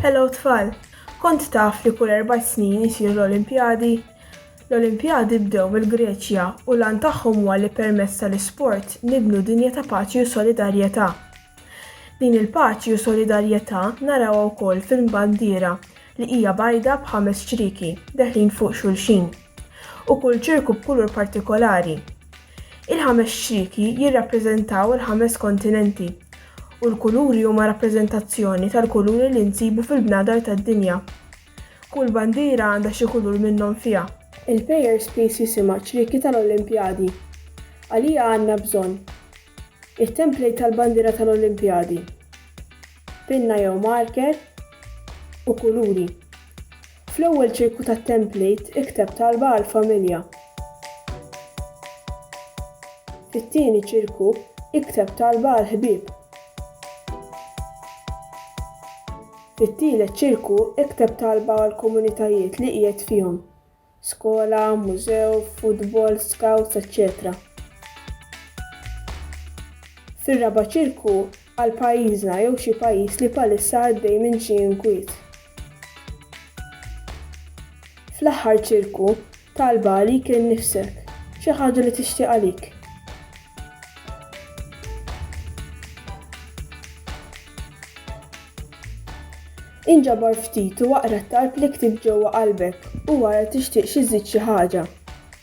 Hello tfal! Kont taf li kull erba' snin isiru l-Olimpjadi? L-Olimpjadi bdew mill-Greċja u l-għan tagħhom huwa li permezz tal-isport nibnu dinja ta' paċi u solidarjetà. Din il-paċi u solidarjetà narawha wkoll fil-bandiera li hija bajda b'ħames ċrieki deħlin fuq xulxin u kull ċirku b'kulur partikolari. Il-ħames xtriki jirrappreżentaw il-ħames kontinenti, u l-kuluri huma rappreżentazzjoni tal-kuluri li nsibu fil-bnadar tad-dinja. Kull bandiera għandha xi kulur minnhom fiha. Il-Payer Space jisimha ċrieki tal-Olimpjadi. Għalija għandna bżonn. It-template tal-bandiera tal-Olimpjadi. Pinna jew marker. U kuluri. Fl-ewwel ċirku tat-template ikteb talba għall-familja. Fit-tieni ċirku, ikteb talba għall-ħbieb. Fit-tielet ċirku, ikteb talba għall-komunitajiet li qiegħed fihom, skola, mużew, futbol, scouts, eċċetera Fir-raba' ċirku, għal pajjiżna jew xi pajjiż li bħalissa għaddej minn xi inkwiet. Fl-aħħar ċirku, talba għalik innifsek, xi ħaġa li tixtieq għalik. Inġabar ftit u aqra t-talb li ktibt ġewwa qalbek u wara tixtieq xi żżid xi ħaġa.